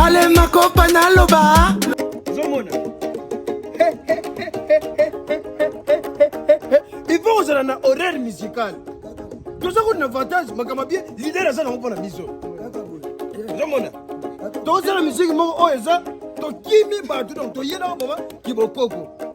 ale makopa naloba ozomona ipo kozala na horaire musical toza koti na avantage makambo bie lider aza nango mpo na biso ozomona tozala miziki moko oyo eza tokimi bato donc toyelaka boma kibokoko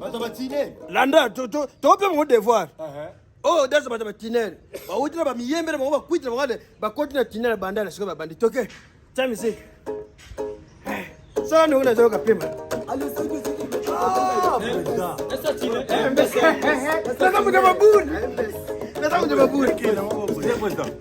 bato batinel landa tokope bango devoir oyo dasa bato batinel bawuti na bamiyembele bango bakwiti na bango ade bakoti na tinel bandala sikoyo babandi toke tya misiki sala ndongo nazoyoka pema naza moto babuni naza moto babuni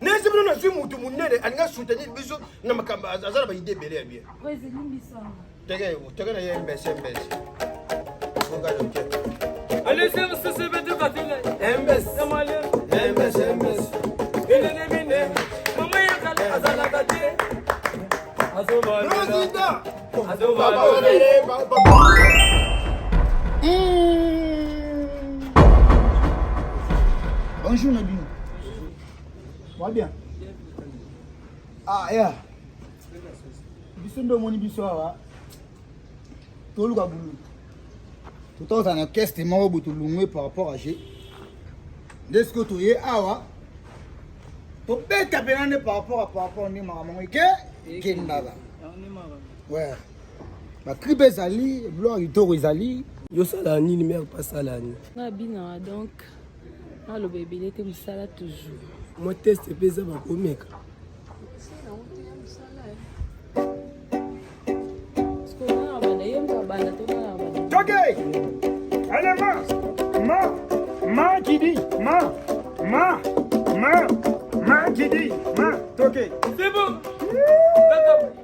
nesi bino nazwi mutu munene alinga soutenir biso na makambo aza na baide ebele ya bien teke teke na ye mbese mbese azalaka te bonjour na bino bien ah ya biso nde omoni biso awa toluka bulu totoza na keste moko bo tolungwe par rapport à je nde sikoyo toye awa tobeta mpena nde par rapport à par rapport nde makambo yango eke ekendaka we batripe ezali biloko kitoko ezali yosala nini mere pasalani abinaka donc aloba ebele te mosala toujours mwa teste mpe eza bakomeka Okay. Allez, ma, ma, ma qui dit, ma, ma, ma, ma qui dit, ma, toqué. C'est bon.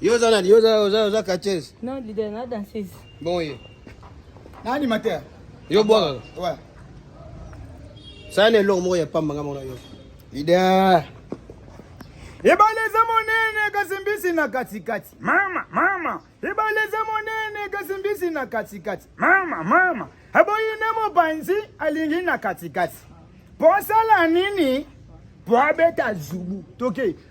Yo za nani? Yo za yo za catcheuse? Non, leader na danseuse. Bon ye. Na animateur. Yo bwaka. Ouais. Ça ne long moko ya pamba nga mona yo. Leader. Ebaleza monene kasi mbisi na katikati. Mama, mama. Ebaleza monene kasi mbisi na katikati. Mama, mama. Aboyi na mopanzi alingi na katikati. Po asala nini? Po abeta zubu. Toke.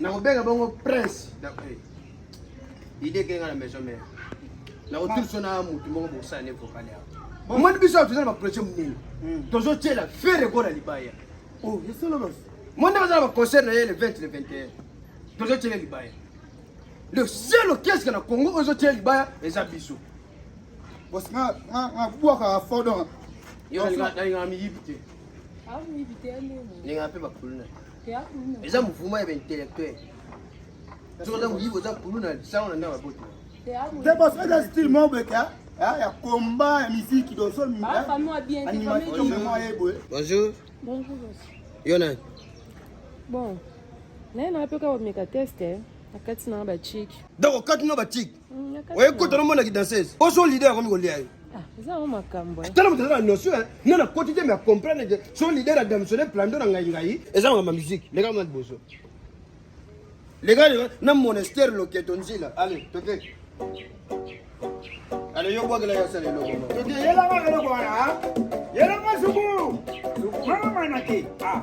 nakobenga bongo prince ide ekenga na maison mare nakotilso na motu moko bokosala ne vokale awa omoni biso awa toza na baprojet monene hmm. tozotyela fere ekola libaya oh, moni baza na baconcert na ye le 20 le 21 tozotyela libaya le seul orchestre na congo oyo ezotyela libaya eza biso bwakaka fodon nalingaka miyibi te nalingaka mpe bakuluna te eza mouvement ya baintellectuel soki oza moyibi oza kulu na lisango na ndako ya boto te parce que eza style mobeke ya combat ya miziki bonjour yo nani bon naye naapeka komeka teste na kati na batiki donc okati na batiki oye kota nomona kidansese oso lide yakomi kolia yo tala moto eza na notion eh. nga na koti te me acomprendre ke so lider ya damsone plando na ngai ngai eza makambo ya musike leka mwa liboso leka na monastère loketo nzila ale toke ale yo bwakela ya sala eloko toke yelanga eloko wana ah. yelanga suku suku mama manake ah.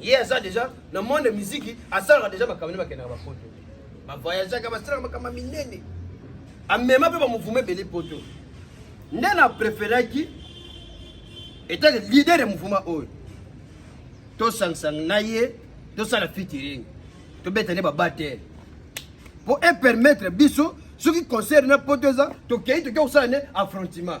ye aza deja na monde miziki asalaka deja makambo nde bakendaka bapoto bavoyageaka basalaka makambo minene amema mpe bamouvuma ebele poto nde na preferaki etake lider ya mouvuma oyo tosangsang na ye tosala fitiring tobeta nde babatere mpo epermettre biso soki concert na poto eza tokei toke kosala nde affrontement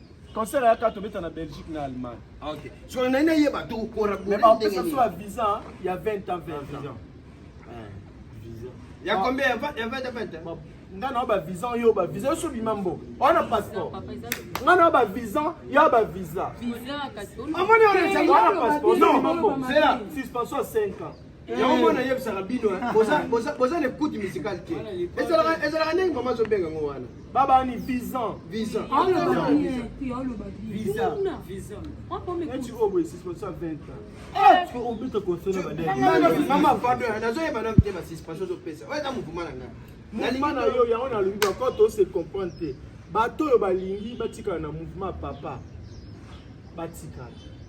Concert ya kato beta na Belgique na Allemagne. Ah, OK. So na ina yeba to ko ra Mais ba pesa so visa ya 20 ans 20 ans. Visa. Ya ah. combien ya 20 ya 20 ans? Nga na ba visa yo ba visa so bima mbo. Ona passeport. Nga na ba visa ya ba visa. Visa kato. Amoni ona passeport. Non. C'est là suspension 5 ans. yango mpo nayebisaka bino boza na ekute musicale te ezalaka ndenge mama azobenga yango wana babani visan visan mama pado nazoyeba nano te basuspension ozopesa oyo eza mouvema na ngai mouvema na yo yango nalobi bako tose comprendre te bato oyo balingi batikala na mouvema papa batikala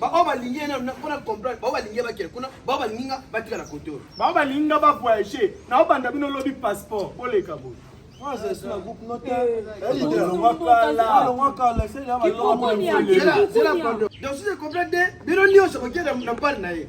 bao balingi ye mpona comprendre bao balingi ye bakele kuna bao balingi nga batikala kote oyo bao balingi nga bavoyage nao banda bino lobi passeport boleka boye donc si je comprends te bino nyonso kokenda na mpale na ye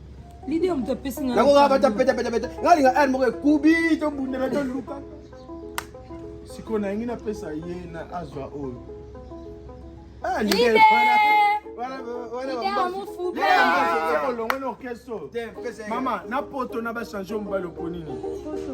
Leader moto apesi nga. Yango kaka bata peta peta peta. Nga linga air moko ekubi to bundela to luka. Siko na ngi na pesa ye na azwa oyo. Ah leader wana. Wana wana ba mufuka. Leader olongwe na orchestre. Mama na poto na ba changer mbalo ponini. Poto.